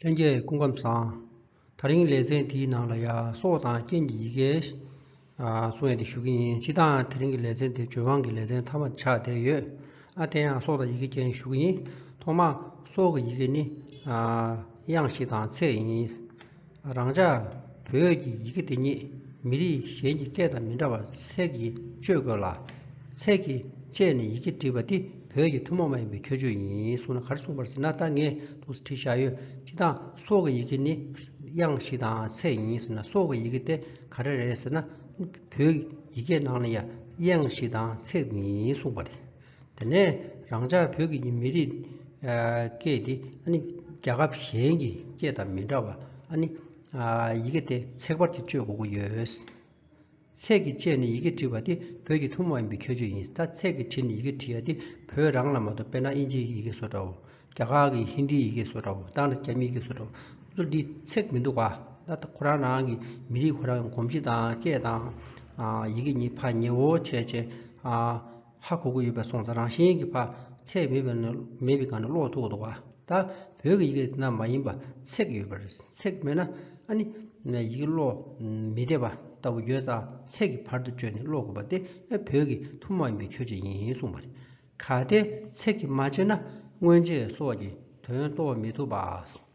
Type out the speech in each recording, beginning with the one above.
ལྷན་རྒྱས་སྐུ་ཁམས་བཟང། ད་རིང་ལེ་ཚན་འདིའི་ནང་ལ་ཡ་སོག་དང་རྐྱེན་གྱི་ཡི་གེ་གསུང་ཡ་དེ་ཞུ་གི་ཡིན་ཕྱི་དང་དེ་རིང་གི་ལེ་ཚན་དེ་བྱོལ་བང་གི་ལེ་ཚན་མཐའ་མ་དེ་ཆགས་བསྡད་ཡོད་ཨ་དེ་ཡང་སོག་དང་ཡི་གེ་རྐྱེན་ཞུ་གི་ཡིན་ཐོག་མ་སོག་གི་ཡི་གེ་ནི་དབྱངས་ཤིག་དང་ཚེག་ཡིན། རང་ཅག་བོད་ཀྱི་ཡི་གེ་འདི་ཉིད་མི་རིགས་གཞན་གྱི་སྐད་དང་མི་འདྲ་བར་ཚད་ཀྱིས་བཅོས་དགོས་ལ། ཚད་ཀྱིས་དཔྱད་ནས་ཡི་གེ་བྲིས་པ་འདི་བོད་ཀྱི་ཐུན་མོང་མ་ཡིན་པའི་ཁྱད་ཆོས་ཡིན་གསུངས་ན་ག་རེ་གསུངས་པར་ཟེར་ན་ད་ངས་དུས་སུ་བྲིས་བཞག་ཡོད་སྤྱི་དང། སྲོག་གི་ཡི་གེ་ནི་དབྱངས་ཤིག་དང་ཚད་ཡིན་ཟེར་ན་སྲོག་གི་ཡི་གེ་དེ་ག་རེ་རེད་ཟེར་ན། བོད་ཡི་གེའི་ནང་ན་ཡང་དབྱངས་ཤིག་དང་ཚད་ཡིན་གསུངས་པ་རེད། དེ་ནས་རང་ཅག་བོད་ཀྱི་མི་རིགས་སྐད་དེ་ཨ་ནི་རྒྱ་ཁབ་གཞན་གྱི་སྐད་དང་མི་འདྲ་བར་ཨ་ནི་ཡི་གེ་དེ་ཚེག་བར་གྱི་སྤྱོད་དགོས་ཀྱི་ཡོད། ཚེག་གི་སྤྱད་ནས་ཡི་གེ་བྲི་བ་དེ་བོད་ཀྱི་ཐུང་མ་ཡིན་པའི་ཁྱད་ཆོས་ཡིན་ད་ཚེག་གི་བྲིས་ནས་ཡི་གེ་བྲི་ཡ་དེ་བོད་རང་ལ་མ་གཏོགས་དཔེར་ན་དབྱིན་ཇིའི་ཡི་གེ་སོགས་འདྲའོ། རྒྱ་གར་གྱི་ཧིན་དིའི་ཡི་གེ་སོགས་འདྲའོ་ད་ནི་རྒྱ་མིའི་ཡི་གེ་སོགས་འདྲའོ་ཚུར་འདི་ཚེག་མི་འདུག་ག་ད་ཁོ་རང་རང་གི་མི་རིགས་ཁོ་རང་གི་གོམས་གཤིས་དང་སྐད་དང་ཡི་གེ་གཉིས་ཕ་ཉེ་བོ་བྱས་བྱས། ཧ་གོ་གི་ཡོད་པའི་སོང་ཚ་རང་བཞིན་གྱི་བར་ཚེགས་མེད་པའི་ནི་མེད་པའི་གང་ནི་ཀློག་ཐུག་གི་འདུག་ད་བོད་ཀྱི་ཡི་གེ་རྣམས་མ་ཡིན་པར་ཚེགས་ཡོད་པ་རེད་ཚེགས་མེད་ན་ཨ་ནི་ཡི་གེ་ཀློག་མི་བདེ་བ་ལྟ་བུ་ཡོད་ཙང་ཚེགས་ཀྱི་བར་དུ་བཅོས་ནས་ཀློག་དགོས་པ་དེ་བོད་ཀྱི་ཐུགས་མ་ཡིན་པའི་ཆོས་ཅིག་ཡིན་གསུངས་པ་རེད་གལ་ཏེ་ཚེགས་ཀྱིས་མ་བཅོས་ན་སྔོན་རྗེས་སོགས་ཀྱི་དོན་རྟོགས་མི་ཐུབ་པ།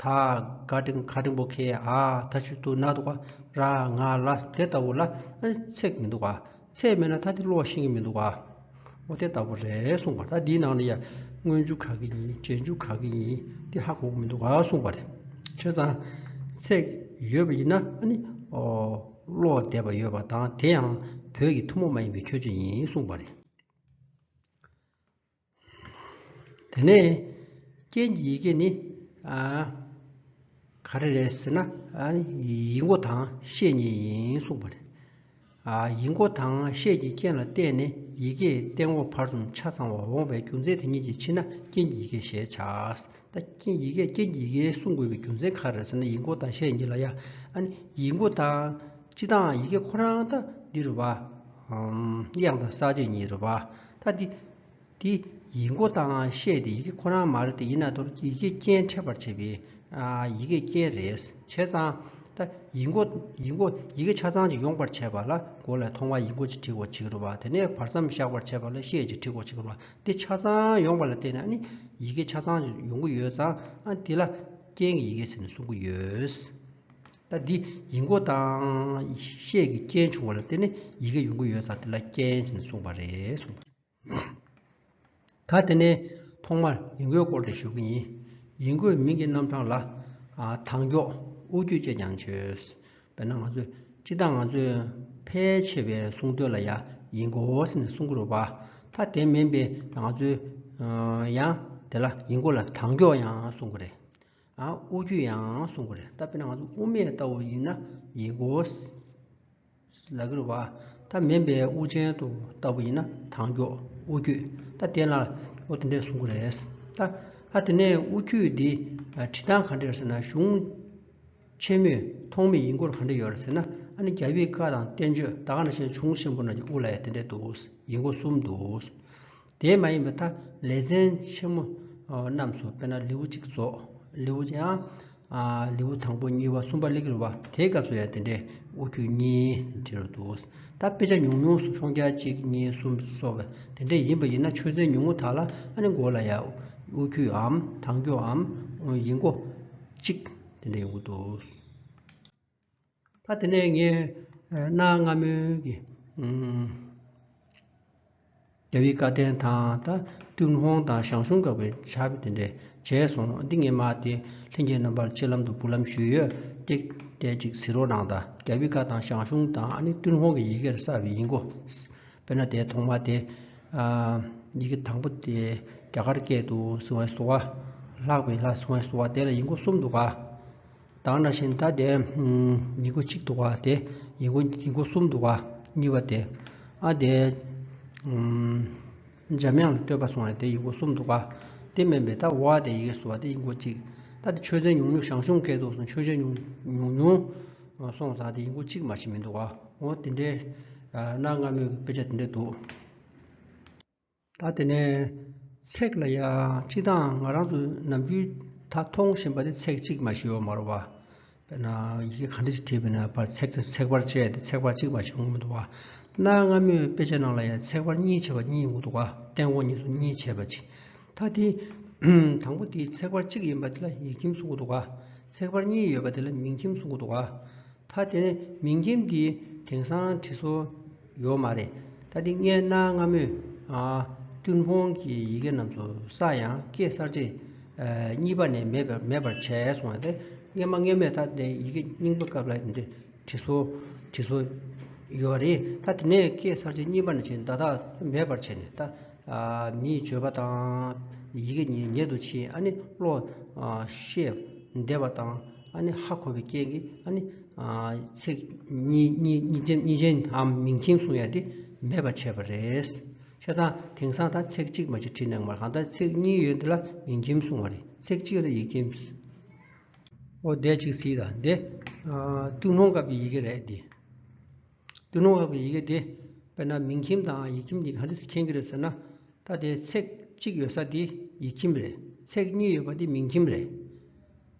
ད་ག་ཏྲིང་ག་ཏྲིང་པོ་ཁེ་ཨ་ད་ཆུ་དུ་ན་འདུག་ར་ང་ལ་དེ་ལྟ་བུ་ལ་ཚེགས་མི་འདུག་ཚེགས་མེད་ན་ད་དེ་ལོག་ཤེས་ཀྱི་མི་འདུག་ཨོ་དེ་ལྟ་བུ་རེད་གསུངས་པ་ད་འདིའི་ནང་ནས་ཡ་དངོས་མཇུག་ག་གི་ཡིན་རྗེས་མཇུག་ག་གི་ཡིན་འདི་ཧ་གོ་མི་འདུག་གསུངས་པ་རེད་ཁྱེད་ཚང་ཚེགས་ཡོད་པ་ཡིན་ན་ལོག་བསྡད་པ་ཡོད་པ་དང་དེ་ཡང་བོད་ཀྱི་ཐུ་མོ་མ་ཡིན་པའི་ཁྱོད་ཅི་ཡིན་གསུངས་པ་རེད། དེ་ནས་རྐྱེན་གྱི་ཡི་གེ་ནི། ག་རེ་རེད་ཟེར་ན། ཡིག་མགོ་དང་ཤེས་གཉིས་ཡིན་གསུངས་པ་རེད། ཡིག་མགོ་དང་ཤེས་ཀྱི་རྐྱེན་ལ་བརྟེན་ནས་ཡི་གེའི་སྟེང་འོག་བར་གསུམ་ཆ་ཚང་བར་འོང་བའི་རྒྱུ་མཚན་དེ་གཉིས་ཀྱི་ཕྱི་ན་རྐྱེན་གྱི་ཡི་གེ་ཞེས་བྱ། ད་རྐྱེན་གྱི་ཡི་གེ་རྐྱེན་གྱི་ཡི་གེ་གསུང་དགོས་པའི་རྒྱུ་མཚན་ག་རེ་ཟེར་ན་ཡིག་མགོ་དང་ཤེས་གཉིས་ལ་ཡ། ཡིག་མགོ་དང་སྤྱི་དང་ཡི་གེ་ཁོ་རང་ད་འདི་རུ་བ། དབྱངས་དང་ས་བཅད་གཉིས་རུ་བ། ད་དེ་དེ་ཡི་མགོ་བཏང་ཤེས་དེ་ཡི་གེ་ཁོ་རང་མ་རེད་དེ་ཡིན་ན་དོར་ཡི་གེ་རྐྱེན་འཕྲད་པར་བྱེད་པའི་ཡི་གེ་རྐྱེན་རེད་བྱས་ཙང། ད་ཡི་མགོ་ཡི་མགོ་ཡི་གེ་ཆ་ཚང་ཅིག་ཡོང་པར་བྱས་པ་ལ་མགོ་ལས་མཐོང་བ་ཡི་མགོ་ཅིག་བྲིས་ཀྱི་རུ་བ་དེ་ནས་བར་མཚམས་བཞག་པར་བྱས་པ་ལ་ཤེས་ཅིག་བྲིས་ཀྱི་རུ་བ་དེ་ཆ་ཚང་ཡོང་པ་ལ་བལྟས་ན་ནི་ཡི་གེ་ཆ་ཚང་ཡོང་གི་ཡོད་ཙང་དེ་ལ་རྐྱེན་གྱི་ཡི་གེ་ཟེར་ནས་གསུང་གི་ཡོད། ལྟ་འདི་ཡིག་མགོ་དང། ཤད་ཀྱི་རྐྱེན་བྱུང་བ་ལ་བརྟེན་ནས་ཡི་གེ་ཡོང་གི་ཡོད་ས་དེ་ལ་རྐྱེན་ཅན་གསུངས་པ་རེད་གསུངས། ད་དེ་ནས་ཐོག་མར་ཡིག་མགོའི་སྐོར་དེ་ཞུ་གི་ཡིན། ཡིག་མགོའི་མིང་གི་རྣམ་གྲངས་ལ། དྭངས་སྐྱོག། དབུ་རྒྱུད་ཅེས་ཀྱང་བརྗོད། དཔེར་ན་ང་ཚོས་སྤྱི་བཏང་ང་ཚོས་ཕལ་ཆེ་བའི་གསུང་དོན་ལ་ཡ་ཡིག་མགོ་ཟེར་ནས་གསུང་གི་རུ་བ། ད་དེ་མིན་པའི་ང་ཚོས། ཡང་དེ་ལ་ཡིག་མགོ་ལ་དྭངས་སྐྱོག་ཡང་གསུང་གི་རེད། དབུ་ཁྱུད་ཡང་གསུང་གི་རེད་ད་དཔེར་ན་ང་ཚོ་དབུ་མེད་ལྟ་བུ་ཡིན་ན་ཡིན་གོ། ལ་གིར་བ་ད་མིན་པའི་དབུ་ཅན་དུ་ལྟ་བུ་ཡིན་ན་དང་མགྱོགས་དབུ་ཁྱུད་ད་དེ་ལ་ཨོ་དེ་འདྲས་གསུང་གི་རེད་ད། ད་དེ་ནས་དབུ་ཁྱུད་འདི་བྲིས་སྟངས་ག་འདྲས་ཟེར་ན་གཞུང་ཆེན་མོས་ཐོགས་མེད་ཡིན་སྐོར་ག་འདྲས་ཡོད་རེད་ཟེར་ན་ཨ་ནི་རྒྱ་བོད་བཀའ་དང་བསྟན་བཅོས་ད་ག་འདྲ་བྱས་ན་གཞུང་ཆེན་པོ་རྣམས་ཀྱི་དབུ་ལ་ཡང་དེ་འདྲས་འདུག་ཡིན་གོ་གསུམ་འདུག། དེ་མ་ཡིན་པའི་མཐའ་ལས་མཚན་ཆེན་མོ་རྣམས་སུ་དཔེར་ན་ལེའུ་གཅིག་རྫོགས། ལེའུ་སྟེ་ཡང། ལེའུ་དང་པོ་གཉིས་པ་གསུམ་པ་ལས་ཀྱི་རུ་བ་དེའི་སྐབས་སུ་ཡང་དེ་འདྲའི་དབུ་ཁྱུད་གཉིས་དེ་རུ་འདུག་ད་དཔེ་ཆ་ཉུང་ཉུང་སུ་ཤོང་རྒྱ་གཅིག་གཉིས་གསུམ་སོགས་པ་དེ་འདྲས་ཡིན་པ་ཡིན་ན་ཆོས་ཚན་ཉུང་ངུ་དག་ལ་ཨ་ནི་མགོ་ལ་ཡང་དབུ་ཁྱུདའམ་དང་རྒྱུའམ་ཡིག་མགོ་གཅིག་དེ་འདྲས་ཡོང་གི་འདུག། ད་དེ་ནས་ངས་གནའ་སྔ་མོའི་རྒྱལ་བའི་བཀའ་བསྟན་དང་ད་ཏུན་ཧོང་དང་ཞང་ཞུང་དགག་པའི་བྱ་བ་དེ་འདྲས་བྱས་སོང་འདི་ངས་མ་དེ་ལྷན་རྒྱས་རྣམ་པར་ཕྱི་ལམ་དུ་བུ་ལམ་ཞུས་ཡོད་སྟེགས་བལྟས་ཅིག་ཟིན་རོགས་གནང་ད་རྒྱལ་བའི་བཀའ་དང་ཞང་ཞུང་དང་ཨ་ནི་ཏུན་ཧོང་གི་ཡི་གེར་གསལ་བའི་ཡིན་གོ། དཔེར་ན་དེའི་ཐོག་མ་དེ། ཡི་གེ་དང་པོ་དེ་རྒྱ་གར་སྐད་དུ་སིང་བྷའི་སོ་བ། ལྷག་པའི་ལྷ་སིང་བྷའི་སོ་བ་དེ་ལ་ཡིག་མགོ་གསུམ་འདུག་ག། དང་ན་བཞིན་ལྟ་སྟེ། ཡིག་མགོ་གཅིག་འདུག་བ་སྟེ། ཡིག་མགོ་གསུམ་འདུག་བ་གཉིས་པ་སྟེ། ཨ་དེ། འཇམ་དབྱངས་ལ་བསྟོད་པ་སོང་བ་སྟེ་ཡིག་མགོ་གསུམ་འདུག་བ། དེ་སྨན་པས་ད་འོ་ཨ་དེ་ཡིག་གསུ་བ་སྟེ་ཡིག་མགོ་གཅིག། ད་དེ་ཆོས་ཚན་ཉུང་ཉུང་ཞང་ཞུང་སྐད་དུ་སོང་ཆོས་ཆ་ཉུང་ཉུང། སོང་ཙང་དེ་ཡིག་མགོ་གཅིག་མ་ཞིག་མི་འདུག་བ། འོ་དེ་འདྲའི། གནའ་སྔ་མོའི་དཔེ་ཆ་དེ་འདྲ་འདུག། ད་དེ་ནས་ཚེག་ལ་ཡང་གཅིག་དང་ང་རང་ཚོ་ནམ་རྒྱུན་ད་མཐོང་བཞིན་པ་དེ་ཚེག་གཅིག་མ་ཞེས་འོག་མར་བ་དཔེར་ན་ཡི་གེ་གང་འདྲ་ཞིག་བྲིས་པ་ན་བར་ཚེག་དེ་ཚེག་བར་བཅད་དེ་ཚེག་བར་གཅིག་མ་ཞེས་འོག་མ་འདུག་བ། གནའ་སྔ་མོའི་དཔེ་ཆ་ནང་ལ་ཡང་ཚེག་བར་གཉིས་བྱས་པ་གཉིས་འོག་འདུག་བ་སྟེང་འོག་གཉིས་སུ་གཉིས་བྱས་པ་ཅི། ད་དེ། དང་པོ་དེའི་ཚེག་བར་གཅིག་ཡིན་པ་དེ་ལ་ཡིག་ཁྱིམ་གསུང་གི་འདུག་བ། ཚེག་བར་གཉིས་ཡོད་པ་དེ་ལ་མིང་ཁྱིམ་གསུང་གི་འདུག་བ། ད་དེ་ནས་མིང་ཁྱིམ་དེའི་དེང་སང་བྲིས་སོ། ཡོད་མ་རེད་ད་འདི་ངའི་གནའ་སྔ་མོའི་ཏུན་ཧོང་གི་ཡི་གེ་རྣམས་སུ་ས་ཡང་ཀེ་སར་ཚེས་གཉིས་པ་ནས་མེད་པར་བྱས་སོང་བ་དེ་སྔ་མ་སྔ་མས་ད་འདི་ཡི་གེ་རྙིང་པ་སྐབས་ལ་འདི་འདྲའི་བྲིས་སོ་བྲིས་སོ་ཡོད་པ་རེད་ད་དེ་ནས་ཀེ་སར་ཚེས་གཉིས་པ་ནས་བྱས་ད་ད་མེད་པར་བྱས་ནས་ད་མིའི་བརྗོད་པ་དང་ཡི་གེ་ཉེ་དུ་ཕྱིན་ཨ་ནི་བློ་ཤེས་འདས་པ་དང། ཨ་ནི་ཧ་གོ་བའི་རྐྱེན་གྱིས་ཨ་ནི། ཚིག་གཉིས་ཅན་འམ་མིང་མཁྱེན་གསུང་ཡ་དེ་མེད་པར་བྱས་པ་རེད། ཁྱེད་རང་དེང་སང་ད་ཚིག་གཅིག་མ་གཅིག་བྲིས་གནང་བར་གང་ལྟར་ཚིག་གཉིས་ཡོད་འདི་ལ་མིང་མཁྱེན་གསུང་བ་རེད་ཚིག་གཅིག་ལ་ཡིག་མཁྱེན། ཨོ་འདས་གཅིག་ཚིག་དང་འདི། ཏུན་ཧོང་སྐབས་ཀྱི་ཡི་གེ་རེད་འདི། ཏུན་ཧོང་སྐབས་ཀྱི་ཡི་གེ་འདི། དཔེར་ན་མིང་མཁྱེན་དང་ཡིག་མཁྱེན་གཉིས་གང་འདྲ་མཁྱེན་གྱི་རེད་ཟེར་ན། ད་དེ་ཚིག་གཅིག་ཡོད་ས་དེ་ཡིག་མཁྱེན་རེད་ཚིག་གཉིས་ཡོད་པ་དེ་མིང་མཁྱེན་རེད།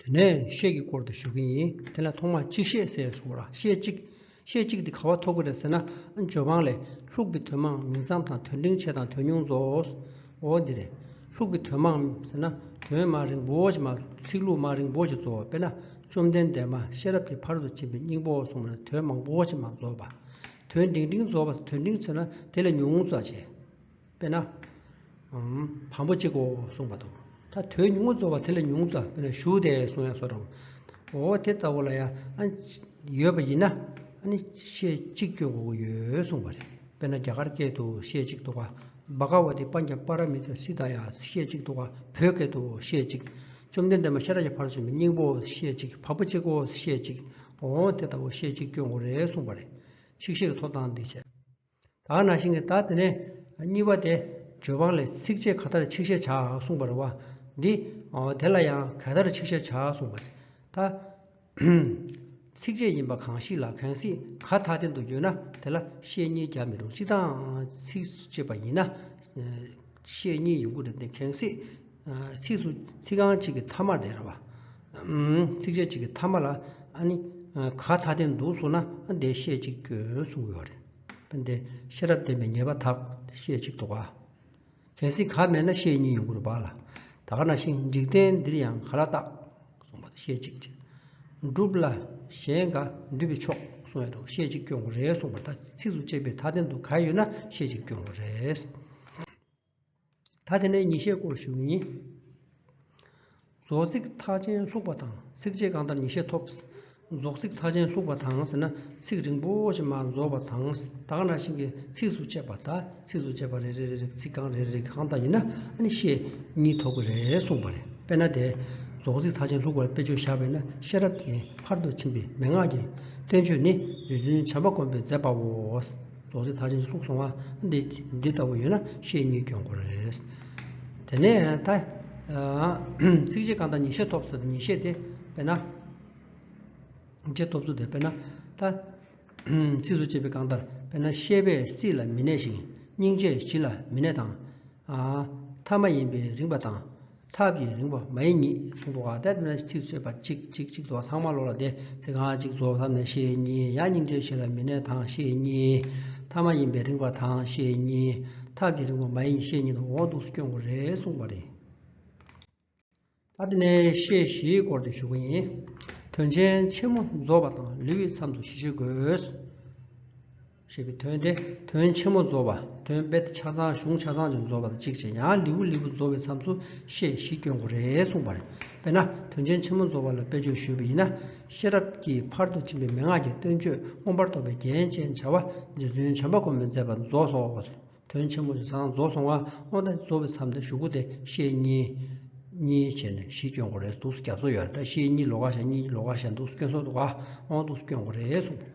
དེ་ནས་ཤད་ཀྱི་སྐོར་དུ་ཞུ་གི་ཡིན་དེ་ལ་ཐོག་མར་གཅིག་ཤད་ཟེར་སོང་ལ་ཤད་གཅིག། ཤད་གཅིག་དེ་ག་བ་ཐོབ་གི་རེད་ཟེར་ན་ཇོ་ཕང་ལས། ལྷུག་གི་དོན་མང་མིང་ཙམ་དང་དོན་འབྲིང་ཆེ་དང་དོན་ཉུང་རྫོགས། འོ་འདི་རེད། ལྷུག་གི་དོན་མང་ཟེར་ན་དོན་མ་རིང་པོ་ཞིག་མ་གཏོགས་ཚིག་ལྷུག་མ་རིང་པོ་ཞིག་རྫོགས་དཔེར་ན་བཅོམ་ལྡན་འདས་མ་ཤེས་རབ་ཀྱི་བར་དུ་ཕྱིན་པའི་སྙིང་པོ་གསུངས་པ་ན་དོན་མང་པོ་ཞིག་མ་རྫོགས་པ། དོན་འབྲིང་འབྲིང་རྫོགས་པ་དོན་འབྲིང་ཟེར་ན་དེ་ལས་ཉུང་རྫོགས་བྱས། དཔེར་ན། བམ་པོ་གཅིག་གོ་གསུངས་པ་དང། ད་དོན་ཉུང་ངུ་རྫོགས་པ་དེ་ལས་ཉུང་ཙམ་དཔེར་ན་ཞུ་བདེ་གསུངས་ཡང་སོགས་དྲང། འོ་དེ་ལྟ་བུ་ལ་ཡང། ཡོད་པ་ཡིན་ན། ཤེས་གཅིག་སྐྱོན་དགུ་ཡོད་གསུངས་པ་རེད། དཔེར་ན་རྒྱ་གར་སྐད་དུ་ཤེས་གཅིག་ཏུ། བ་ག་བ་ཏི་པ་ཉྱ་པ་ར་མི་ཏི་སི་ཏཱ་ཡ་ཤེས་གཅིག་ཏུ། བོད་སྐད་དུ་ཤེས་གཅིག། བཅོམ་ལྡན་འདས་མ་ཤཱ་ར་ཡ་བྷར་བྱོན་པའི་སྙིང་པོ་ཤེས་གཅིག་བམ་པོ་གཅིག་གོ་ཤེས་གཅིག། འོ་དེ་ལྟ་བུ་ཤེས་གཅིག་སྐྱོན་དགུ་རེད་གསུངས་པ་རེད། ཆིག་ཤེས་ཀྱི་ཐོབ་ཐང་འདི་བྱས། དག་ན་ཤིང་གི་དག་དེ་ནས་གཉིས་པ་སྟེ། ཇོ་བང་ལས་ཚིགས་བཅད་ག་དར་ཆིག་ཤད་བྱ་འང་གསུངས་པར་བ། འདི། དེ་ལ་ཡང་ག་དར་ཆིག་ཤད་བྱ་གསུངས་པ། ད། ཚིགས་བཅད་ཡིན་པ་གང་ཞིག་ལ་གང་སྲིད་ག་དག་བསྟན་དུ་འགྱོད་ན་དེ་ལ་ཤད་གཉིས་རྒྱག་མི་རུང་སྤྱི་དང། ཚིགས་བཅད་པ་ཡིན་ན། ཤད་གཉིས་ཡིན་དགོས་རེད་དེ་གང་སྲིད། ཚིགས་སུ་ཚིག་རྐང་གཅིག་གི་མཐའ་མར་དེ་འདྲ་བ། ཚིགས་བཅད་གཅིག་གི་མཐའ་མ་ལ་ཨ་ནི་ག་ད་ལྟའི་འདུག་གསུངས་ན་བདེ་གཤེགས་གཅིག་སྐྱོན་གསུང་གི་ཡོད་རེད། དེ་ཤེས་རབ་བསྟན་པའི་ཉེས་པ་དག་ཤེས་གཅིག་དོགས་པ། གལ་སྲིད་ག་མེད་ན་ཤེས་གཉིས་ཡོང་གི་རུ་བག་ལ་ད་ག་ན་ཤི་འཇིག་རྟེན་འདིར་ཡང་ག་ལ་བརྟག་གསུངས་པ་དེ་ཤེས་གཅིག་ཅེས། སྒྲུབ་ལ་གཞན་འགའ་འདུས་པའི་ཕྱོགས་གསུང་བས་འདུག་ཤེས་གཅིག་སྐྱོན་གོ་རེ་གསུངས་པ་ལྟར་ཚིགས་སུ་བཅད་པའི་མཐའ་ལྡན་འདུག་ག་ཡོད་ན་ཤེས་གཅིག་སྐྱོན་གོ་རེ། ད་དེ་ནས་ཉིན་ཤས་སྐོར་བཞུགས་ཡིན། རྫོགས་ཚིག་མཐའ་ཅན་ལྷུག་པ་དང་ཚིག་རྗེས་གང་ལྟར་ཉིན་ཤས་ཐོབ། རྫོགས་ཚིག་མཐའ་ཅན་ལྷུག་པ་དང་ཟེར་ན་ཚིག་རིང་པོ་ཞིག་མ་རྫོགས་པ་དང་དག་སྣ་ཤིང་གི་ཚིགས་སུ་བཅད་པ་དག་ཚིགས་སུ་བཅད་པ་རེ་རེ་རེ་རེ་ཚིག་རྐང་རེ་རེ་རེ་གང་དག་ཡིན་ན་ཤས་གཉིས་ཐོབ་ཀྱི་རེད་གསུངས་པ་རེད་དཔེར་ན་དེ་རྫོགས་ཚིག་མཐའ་ཅན་ལྷུག་པར་དཔེ་བརྗོད་བཞག་པས་ན་ཤེས་རབ་ཀྱི་ཕར་དུ་ཕྱིན་པའི་མན་ངག་གི་བསྟན་བཅོས་ནི་རྗེ་བཙུན་བྱམས་པ་དཀོན་པས་མཛད་པའོ། རྫོགས་ཚེ་ད་ཕྱིན་ཅི་ལོག་སོང་བ་འདི་འདི་ལྟ་བུ་ཡོད་ན་ཤེས་གཉིས་སྐྱོན་གོ་རེད། དེ་ནས་ད། ཚིག་གཅིག་གང་དང་ཉིད་ཤེས་ཐོབ་ཚུལ་དང་ཉིད་ཤེས་དེ་དཔེར་ན། ཤེས་ཐོབ་ཚུལ་དེ་དཔེར་ན། ད། ཚིགས་སུ་བཅད་པའི་གང་ལྟར་དཔེར་ན་ཤེས་པས་སྲིད་ལ་མི་གནས་ཤིང་སྙིང་རྗེས་གཞི་ལ་མི་གནས་དང། ཐ་མ་ཡིན་པས་རིངས་པ་དང། ཐབས་ཀྱིས་རིང་བ་མ་ཡིན་ཉིད་གསུང་དུ་བ་དད་ནས་ཚིག་བརྩོད་པ་གཅིག་གཅིག་གཅིག་ཏུ་བ་ཚང་མ་ལོག་ལ་དེ་ཚིག་གང་གཅིག་རྫོགས་ཐབས་ནས་ཤེས་གཉིས་ཡང་སྙིང་རྗེ་ཞེས་ལ་མི་གནས་དང་ཤེས་གཉིས་ཐ་མ་ཡིན་པས་རིང་བ་དང་ཤེས་གཉིས་ཐབས་ཀྱིས་རིང་བ་མ་ཡིན་ཉིད་ཤེས་གཉིས་དང་འོག་འདུག་སྐྱོན་དགུ་རེ་གསུངས་པ་རེད། ད་དེ་ནས་ཤེས་བཞིའི་སྐོར་དུ་ཞུགས་པ་ཡིན། དོན་ཆེན་ཆེན་མོ་རྫོགས་པ་དང་ལེའུའི་མཚམས་སུ་བཞི་བཤད་དགོས། ཞེས་པའི་དོན་ཏེ་དོན་ཆེན་མོ་རྫོགས་པ་དོན་དཔེ་ཆ་ཚང་གཞུང་ཆ་ཚང་ཅན་རྫོགས་པ་དང་གཅིག་ཅན་ཡང་ལིའུ་ལིའུ་རྫོགས་པའི་མཚམས་སུ་ཤེས་བཞི་སྐྱོན་དགུ་རེ་གསུངས་པ་རེད། དཔེར་ན་དོན་ཆེན་ཆེན་མོ་རྫོགས་པ་ལ་དཔེ་བརྗོད་ཞུས་པ་ཡིན་ན། ཤེས་རབ་ཀྱིས་ཕར་དུ་ཕྱིན་པའི་མན་ངག་གི་སྟོན་ཆོས་མངོན་པར་རྟོགས་པའི་རྒྱན་ཅན་བྱ་བ་རྗེ་བཙུན་བྱམས་པ་སྒོམ་པས་མཛད་པ་རྫོགས་སོ། དོན་ཆེན་མོ་ཆ་ཚང་རྫོགས་སོང་བ་དངོས་ཟླ་རྫོགས་པའི་མཚམས་ཏེ་ཞུ་དགུ་སྟེ་ཤེས་གཉིས། གཉིས་བྱས་ནས་བཞི་སྐྱོན་དགུ་རེ་གདུགས་སུ་རྒྱ་མཚོ་ཡོད་ལ་ཤེས་གཉིས་ལོ་ག་ཞག་གཉིས་ལོ་ག་ཞག་གདུགས་སུ་སྐྱོན་སོ་དགུ་ག་དབང་གདུགས་སུ་སྐྱོན་དགུ་རེ་གསུངས་པ།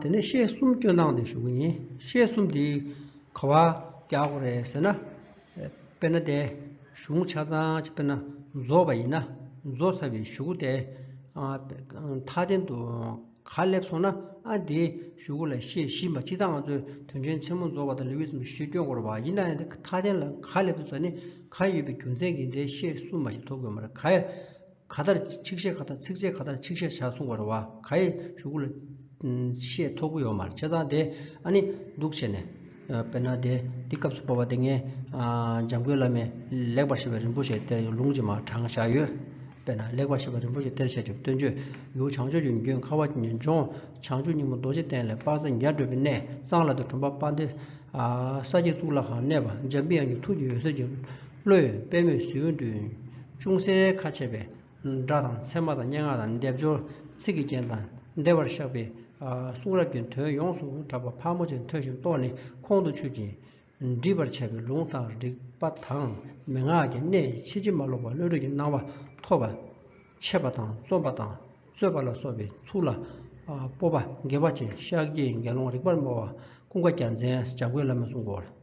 དེ་ནས་ཤེས་གསུམ་སྐྱོན་སྣང་དེ་ཞུ་གི་ཡིན་ཤེས་གསུམ་དེ་ག་བ་ཀྱག་གོ་རེད་ཟེར་ན། དཔེར་ན་དེ་གཞུང་ཆ་ཚང་གཅིག་དཔེར་ན་རྫོགས་པ་ཡིན་ན་རྫོགས་ཚར་བའི་ཞུ་གུ་དེ་མཐའ་རྟེན་དུ་ག་སླེབས་སོང་ན་ཨ་དེའི་ཞུ་གུ་ལ་ཤེས་བཞི་མ་ཕྱི་ད་ང་ཚོས་དོན་ཆེན་ཆེན་མོ་རྫོགས་པ་དང་ལེའུ་ཡི་ཚོམས་ཆེན་ཤེས་སྐྱོན་གོ་རེད་བ་ཡིན་ན་ཡང་དེ་མཐའ་རྟེན་ལ་ག་སླེབས་འདུག་ཟེར་ནས་ག་ཡོད་པའི་རྒྱུ་མཚན་གྱིས་དེ་ཤེས་གསུམ་མ་ཞིག་ཐོབ་དགོས་མ་རེད་ག་ཡ། ག་ལྟར་ཆིག་བཤད་ག་ལྟར་ཚིགས་བཅད་ག་ལྟར་ཆིག་བཤད་བྱ་གསུང་བར་བ་ག་ཡེ་ཞུ་གུ་ལ། བཤད་ཐོག་གུ་ཡོ་མར་ཆེ་ཚང་དེ་ཨ་ནི་འདུག་བྱས་ནས། དཔེར་ན་དེ་འདི་སྐབས་སུ་བོར་བ་དེ་ངས། འཇམ་མགོན་བླ་མས་ལེགས་པར་བཤད་པའི་རིན་པོ་ཆེ་གཏེར་གྱི་ལུང་ཇི་མ་དྲང་བཞག་ཡོད། དཔེར་ན་ལེགས་པར་བཤད་པའི་རིན་པོ་ཆེ་གཏེར་བཤད་ཆུབ་སྟོན་མཆོད་ཡུལ་བྱང་ཕྱོགས་ཀྱི་འགྱོད་ཁ་བ་ལྗོངས་བྱང་ཆུབ་སྙིང་པོ་རྡོ་རྗེ་གདན་ལས་དཔག་ཚད་བརྒྱར་བགྲོད་པའི་གནས་གཙང་ལ་དེ་དྲུང་པ་དཔའ་འདི། ས་སྐྱེས་གཙུག་ལག་ཁང་གནས་པ་འཇམ་པའི་དབྱངས་ཀྱི་ཐུགས་ཀྱི་འོད་ཟེར་གྱི། བློ་ཡི་པད་མོས་གཟི་འོད་བསྐྲུན། ཅུང་ཟད་ཁ་ཕྱེ་བའི་སྒྲ་དང་ཚེར་མ་དང་སྙན་ངག་དང་སྡེབ་སྦྱོར་ཚིག་གི་རྒྱན་དང་བདེ་བར་གཤགས་པའི་གསུང་རབ་ཀྱི་དོན་ཡོངས་སུ་གྲགས་པ་ཕག་མོ་ཆེ་འཐོལ་ཞིང་ལྟོ་ནི་ཁོང་དུ་ཆུད་ཅིང། འདྲིས་པར་བྱས་པའི་ལུང་དང་རིགས་པ་དང་མན་ངག་གི་གནད་ཕྱི་ཅི་མ་ལོག་པར་བློ་གྲོས་ཀྱི་སྣང་བ་ཐོབ་པ། འཆད་པ་དང་རྩོམ་པ་དང་རྩོད་པ་ལ་སོགས་པའི་ཚུལ་ལ་སྤོབས་པ་དགེ་བ་ཅན་ཤཱཀྱའི་དགེ་སློང་རིག་པར་སྨྲ་བ་ཀུན་དགའ་རྒྱ་མཚན་བྱ་རྒོད་བླ་མའི་གསུང་སྐོར།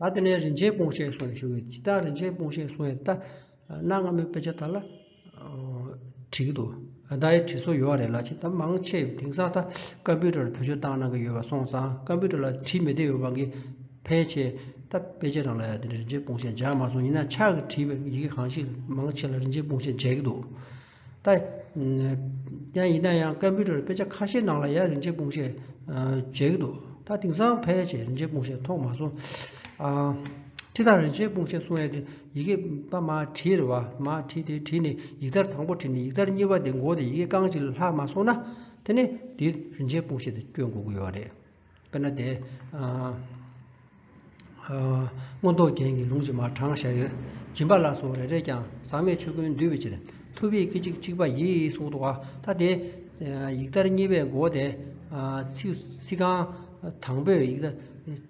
ད་དེ་ནས་རིན་ཆེན་སྤུངས་ཤེས་སོང་ཞུ་བའི་སྤྱི་རྟགས་རིན་ཆེན་སྤུངས་ཤེས་སོང་ཡས་ཏཱ། གནའ་སྔ་མོའི་དཔེ་ཆ་དག་ལ། བྲིས་ཀྱི་འདུག་ཨ་ཏཱའི་བྲིས་སྲོལ་ཡོད་རེད་ལ་ཆེས་ད་མང་ཆེ་དེང་སང་ད་ཀམ་པུའུ་ཏར་བེད་སྤྱོད་བཏང་གནང་གི་ཡོད་པ་སོང་ཙང་ཀམ་པུའུ་ཏར་ལ་བྲིས་མི་བདེ་ཡོད་པ་གི་ཕན་ཆེ་ད་དཔེ་ཆའི་ནང་ལ་ཡང་དེ་འདྲའི་རིན་ཆེན་སྤུངས་ཤེས་སྦྱར་མ་སོང་ཡིན་ན་ཕྱག་གི་བྲིས་པའི་ཡི་གེ་གང་ཞིག་མང་ཆེ་ལ་རིན་ཆེན་སྤུངས་ཤེས་མཇལ་གྱི་འདུག། ད་ཡང་ཡིན་ན་ཡང་སྐད་འབོད་ཁྲོད་དཔེ་ཆ་ཁ་ཤས་ནང་ལ་ཡ་རིན་ཆེན་སྤུངས་ཞེས་མཇལ་གྱི་འདུག་ད་དེང་སང་ཕལ་ཆེར་རིན་ཆེན་སྤུངས་ཞེས་མཐོང་མ་སོང། ཁྲི་ཐར་རིན་ཆེན་སྤུངས་ཞེས་གསུང་ཡས་དེ་ཡི་གེ་པ་མ་བྲིས་རེད་བ། མ་བྲིས་དེ་བྲིས་ནས་ཡིག་དར་དང་པོ་བྲིས་ནས་ཡིག་དར་གཉིས་པ་དེ་འགོག་དེ་ཡི་གེ་རྐང་གཅིག་ལ་ལྷག་མ་སོང་ན་དེ་ནས་འདི་རིན་ཆེན་སྤུངས་ཞེས་དེ་བསྐྱོན་འགོག་གི་ཡོད་རེད། དཔེར་ན་དེ། མངོན་རྟོགས་རྒྱན་གྱི་ལུང་བཞིན་མར་དྲངས་བཞག་ཡོད། སྦྱིན་པ་ལ་སོགས་རེ་རེས་ཀྱང་ཟག་མེད་ཆོས་ཀུན་འདུས་པའི་ཕྱིར། ཐུབ་དབྱིངས་སྐད་ཅིག་གཅིག་པ་ཡིད་གསུང་རྡོ་ཁ་དེ། ཡིག་དར་གཉིས་པའི་མགོ་དེ། ཚིག་རྐང་དང་པོས་ཡིག་དར།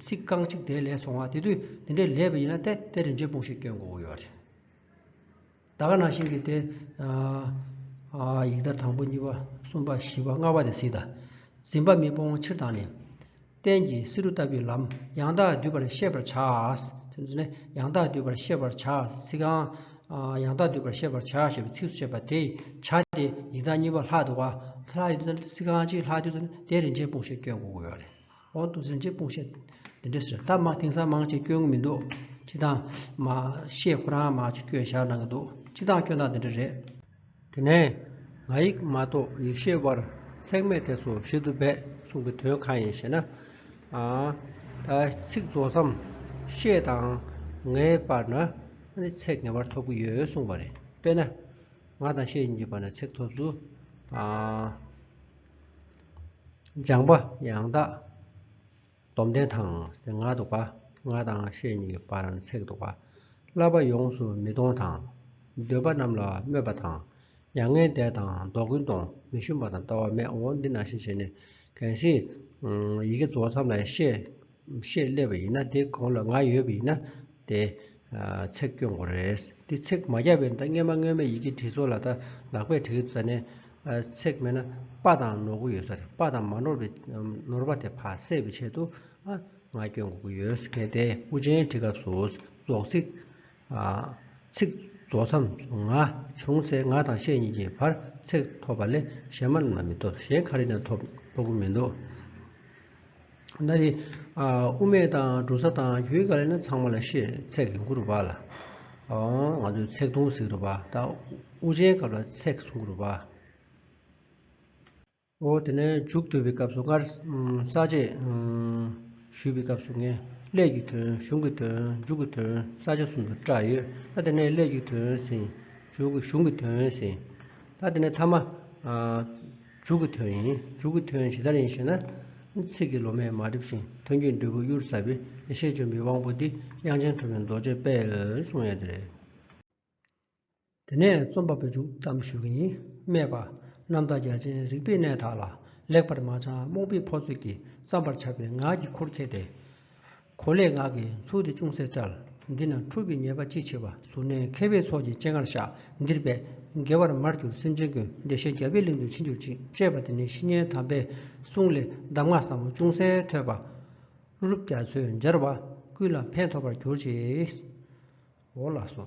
ཚིག་རྐང་གཅིག་དེ་ལས་སོང་བ་དེ་དུས་འདི་འདྲའི་ལས་པ་ཡིན་ན་ཏེ་དེ་རིན་ཆེན་སྤུངས་ཤིང་སྐྱོན་གོ་ཡོད། ད་ག་ན་ཤིང་གིས་ཏེ། ཡི་དྭགས་དང་པོ་གཉིས་པ་གསུམ་པ་བཞི་པ་ལྔ་བ་དེ་སྲིད་དང། འཛིན་པ་མི་སྤོང་ཕྱིར་དང་ནི། རྟེན་གྱི་བསེ་རུ་ལྟ་བུའི་ལམ་ཡང་དག་བསྡུས་པར་ཤེས་པར་བྱ། ཡང་དག་བསྡུས་པར་ཤེས་པར་བྱ། ཚིག་གང། ཡང་དག་བསྡུས་པར་ཤེས་པར་བྱ་ཞེས་པའི་ཚིགས་སུ་བཅད་པ་དེ་བྱ་སྟེ་ཡི་དྭགས་གཉིས་པ་ལྷག་ཏུ་བ། ཚིག་གང་ཅིའི་ལྷག་བསྡུས་སུ་ནི་དེའི་རིན་ཆེན་སྤོང་ཞིང་སྐྱོན་འགོག་གོ། འོག་ཏུ་ཟིན་བྲིས་སྤུངས་བཤད་འདི་འདྲ་ཟེར་ད་མ་དེང་སང་མང་ཆེ་སྐྱོན་མི་འདུག་སྤྱི་དང། མ་ཤེས་ཁོ་རང་མང་ཆེ་སྐྱོན་བཞག་གནང་གི་འདུག་སྤྱི་དང་སྐྱོན་དང་འདི་འདྲ་རེད། དེ་ནས་ང་ཡིག་མ་གཏོགས་ཡིག་ཤེས་བར་ཚེགས་མེད་དེ་སོ་ཞིག་ཏུ་སྦས་གསུང་གི་དོན་གང་ཡིན་ཞེ་ན། ད་ཚིག་རྫོགས་སམ་ཤེས་དང་ངའི་བར་ན་ནི་ཚེགས་ངེས་པར་ཐོབ་ཀྱི་ཡོད་གསུངས་པ་རེད་དཔེར་ན། ང་དང་ཤེས་གཉིས་ཀྱི་བར་ན་ཚེགས་ཐོབ་ཚུལ། སྦྱངས་པ་ཡང་དག་སྡོམ་ལྡན་དང་གཟི་ང་འདུག་པ་ང་དང་ཤེས་གཉིས་པར་འཚེག་འདུག་པ་བསླབ་པ་ཡོངས་སུ་མི་གཏོང་དང་འདོད་པ་རྣམས་ལ་སྨོད་པ་དང་མྱ་ངན་འདས་དང་བཟློག་ཀུན་གཏོང་མི་ཞུམ་པ་དང་ལྟ་བ་མེད་འོ་འདི་ན་ཤེས་བྱས་ནི་གང་ཞིག་ཡི་གེ་རྫོགས་མཚམས་ལས་ཤེས། ཞེས་སླེབས་པ་ཡིན་ན་དེའི་གོང་ལ་ང་ཡོད་པ་ཡིན་ན་དེ། ཚེགས་སྐྱོན་གོ་རེད། འདི་ཚེགས་མ་བརྒྱབ་པའི་ད་སྔས་མ་སྔོན་མའི་ཡི་གེ་བྲིས་ཚོ་ལ་ད་ལག་པས་བྲིས་ས་ནས། ཚེགས་མེད་ན་དཔའ་དང་ནོར་གུ་ཡོད་ས་རེད་དཔའ་དང་མ་ནོར་བའི་ནོར་བ་དེ་ཕ་བསད་པའི་ཆེད་དུ། ང་སྐྱོན་གོ་གི་ཡོད། གལ་ཏེ་དབུ་ཅན་བྲིས་སྐབས་སུ་རྫོགས་ཚིག། ཚིག། རྫོགས་མཚམས་སུ་ང་བྱུང་ཚེ་ང་དང་ཤེས་གཉིས་ཀྱི་བར་ཚེག་ཐོབ་པ་ལས་གཞན་མ་ན་མི་ཐོབ་གཞན་ག་རེ་ན་ཐོབ་ཁོག་པོ་མི་འདུག། ན་རེ། དབུ་མེད་དང་འབྲུ་ཚ་དང་རྒྱུའི་ག་རེ་ན་ཚང་མ་ལ་ཤེས་ཚེག་གིས་མགུ་རུ་བག་ལ། ང་ཚོས་ཚེག་དུང་ཟིག་རུ་བག་ད་དབུ་ཅན་སྐབས་ལ་ཚེག་གསུམ་གུ་རུ་བག། ཨོ་དེ་ནས་མཇུག་བསྡུ་བའི་སྐབས་སུ་སྔར་ས་བཅད། ཞུས་པའི་སྐབས་སུ་ངེས་ཀླད་ཀྱི་དོན་གཞུང་གི་དོན་མཇུག་གི་དོན་ས་བཅད་གསུམ་དུ་བཀྲ་ཡོད་ད་དེ་ནས་ཀླད་ཀྱི་དོན་ཟིན། མཇུག་གི་གཞུང་གི་དོན་ཟིན། ད་དེ་ནས་ཐ་མ། མཇུག་གི་དོན་ཡིན་མཇུག་གི་དོན་ཇི་ལྟར་ཡིན་ཞེ་ན། ཚིག་གི་ལོ་མས་མ་བསྒྲིབས་ཤིང་དོན་གྱི་འབྲས་བུ་གཡུར་ཟ་བའི་ཡེ་ཤེས་ལྗོན་པའི་དབང་པོ་འདི་དབྱངས་ཅན་གྲུབ་པའི་མདོ་རྒྱས་པས་གསུངས་ཡས་དེ་རེད། དེ་ནས་རྩོམ་པ་པོས་འཇུག་གཏམ་ཞུ་མཁན་ཡིན་སྨྲས་པ། གནམ་བདག་རྒྱ་ཆེན་རིག་པའི་གནས་དག་ལ། ལེགས་པར་མ་བྱང་རྨོངས་པའི་ཕོ་ཚོད་ཀྱིས་བརྩམས་པར་བྱ་བའི་ངག་གི་ཁུར་ཁྱེར་ཏེ། གོ་ལའི་ངག་གིས་མཚུར་དེ་ཅུང་ཟད་བཀྲལ། འདི་ན་འཁྲུལ་པའི་ཉེས་པ་ཅི་མཆིས་པ། གཟུར་གནས་མཁས་པའི་ཚོགས་ཀྱི་སྤྱན་སྔར་བཤགས། འདིར་འབད་དགེ་བར་མར་གྱུར་སེམས་ཅན་ཀུན། བདེ་གཤེགས་རྒྱལ་པོའི་གླིང་དུ་ཕྱིན་གྱུར་ཅིག། ཅེས་པ་འདི་ནི་བཤེས་གཉེན་དམ་པའི་གསུང་ལས་གདམས་ངག་ཟབ་མོ་ཅུང་ཟད་ཐོས་པ། ཀླུ་སྒྲུབ་རྒྱ་མཚོས་སྦྱར་བ། ཀུན་ལ་ཕན་ཐོགས་པར་གྱུར་ཅིག། འོ་ལགས་སོ།